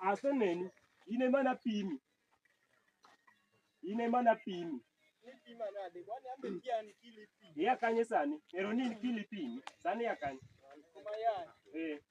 aseneni ine mana pimi ine mana pimi yakanye sani ero nini kili pimi sani yakanye eh.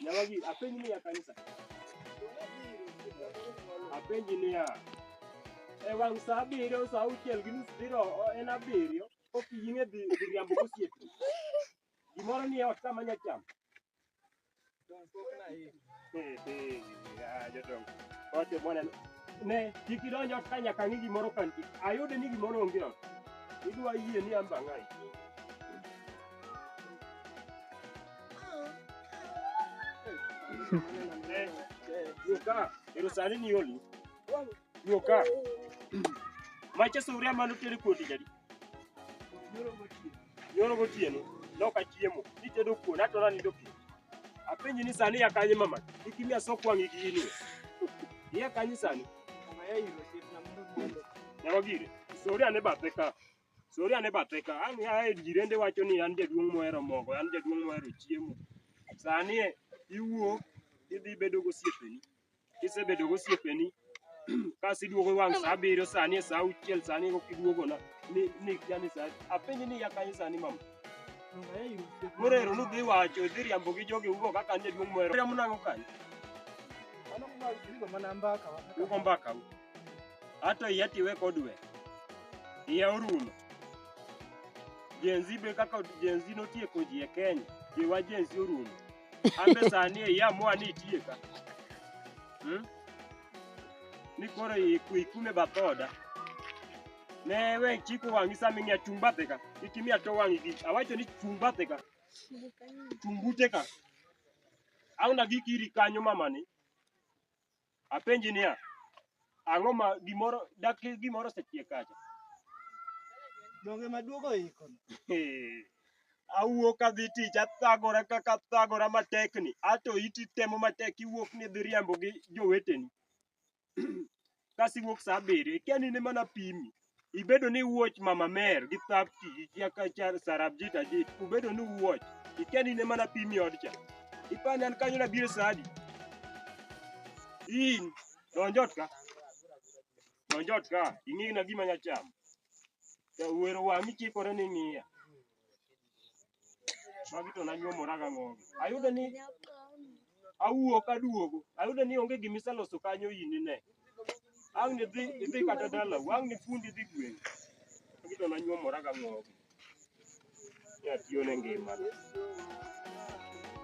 Nyawagi, apenji niya kanisa. Apenji niya. E wang' saa abiriyo, saa auchiel gi nus biro o- en abiriyo, ok ying'e dhi dhi riambo gosiepe. Gimoro ni e ot kama nya chamo. Eh, eh, ah, jodongo. Ote bwana, ne kik idonj ot ka nyaka ng'i gimoro ka nitie. Ayude ni gimoro onge ot. Idwa yie ni an bang'ayi. Yoka, irusani ni yoli. Yoka. Macha suria manu teri kuodi jadi. Yoro gotieno, loka chiemo, nitedo kuon, atora nindo pi. Apenji ni sani ya kanye mama, ikimia sok wangi gi ini. Iya kanye sani, Kama yeye hilo chef na mtu mmoja. nyawagire. Suria ne bathe ka. Sori ane bathe ka, an ae jirende wacho ni an jaduong' mohero mogo, an jaduong' mohero chiemo. Sani e, iwuok, idhi bedo gosiepeni. Kisebedo gosiepeni, kas iduogo wang' sa abiriyo, sani e sa auchiel, sani e koka iduogona. Ni, ni kia ni sa, apenji ni iya kanye sani mama? Morero ni udhi wacho, idhi riambo gi jogi ugo kaka an jaduong' mohero. Riambo nang'o kanye? Ugo mbaka u. ato iya tiwe kodwe iya orumo Gen Z be kaka Gen Z notieko ji e Kenya jiwa Gen Z orumo ambe sani e iya moa ni itieka hmm? ni koro iku- ikume bathoda ne we chiko wang'i sama ing'iya chung' bathe ka kik imiya to wang'i gi awacho ni chung' bathe ka chung' bute ka auna gikiri kanyo mamani Apenji niya, ang'o ma gimoro dak gimoro osechiek kacha? Donge maduogo iko. Awuok adhi tich athagora kaka athagora matekni, ato iti temo matek iwuok ni idhi riambo gi joweteni. Kasiwuok sa abiriyo, ikia ni in ema napimi. ibedo ni wuoch mama mer gi thapki gi kiakacha sarabjit ajit ubedo ni wuoch ikia ni ne mana pimi odcha ipani an kanyo nabiro sadi in donjot ka donjot ka ing'ina gima nyachamo wero wang'i chikore ni ng'iya Magi to nanyuomora ga ng'ogi. Ayudo ni awuok aduogo. Ayudo ni onge gima iseloso kanyo in ine. Ang' ni dhi idhi kata dalau, ang' ni fundi dhi gweng'i. Magi to nanyuomora ga ng'ogi. Ni atiyo ne ngima.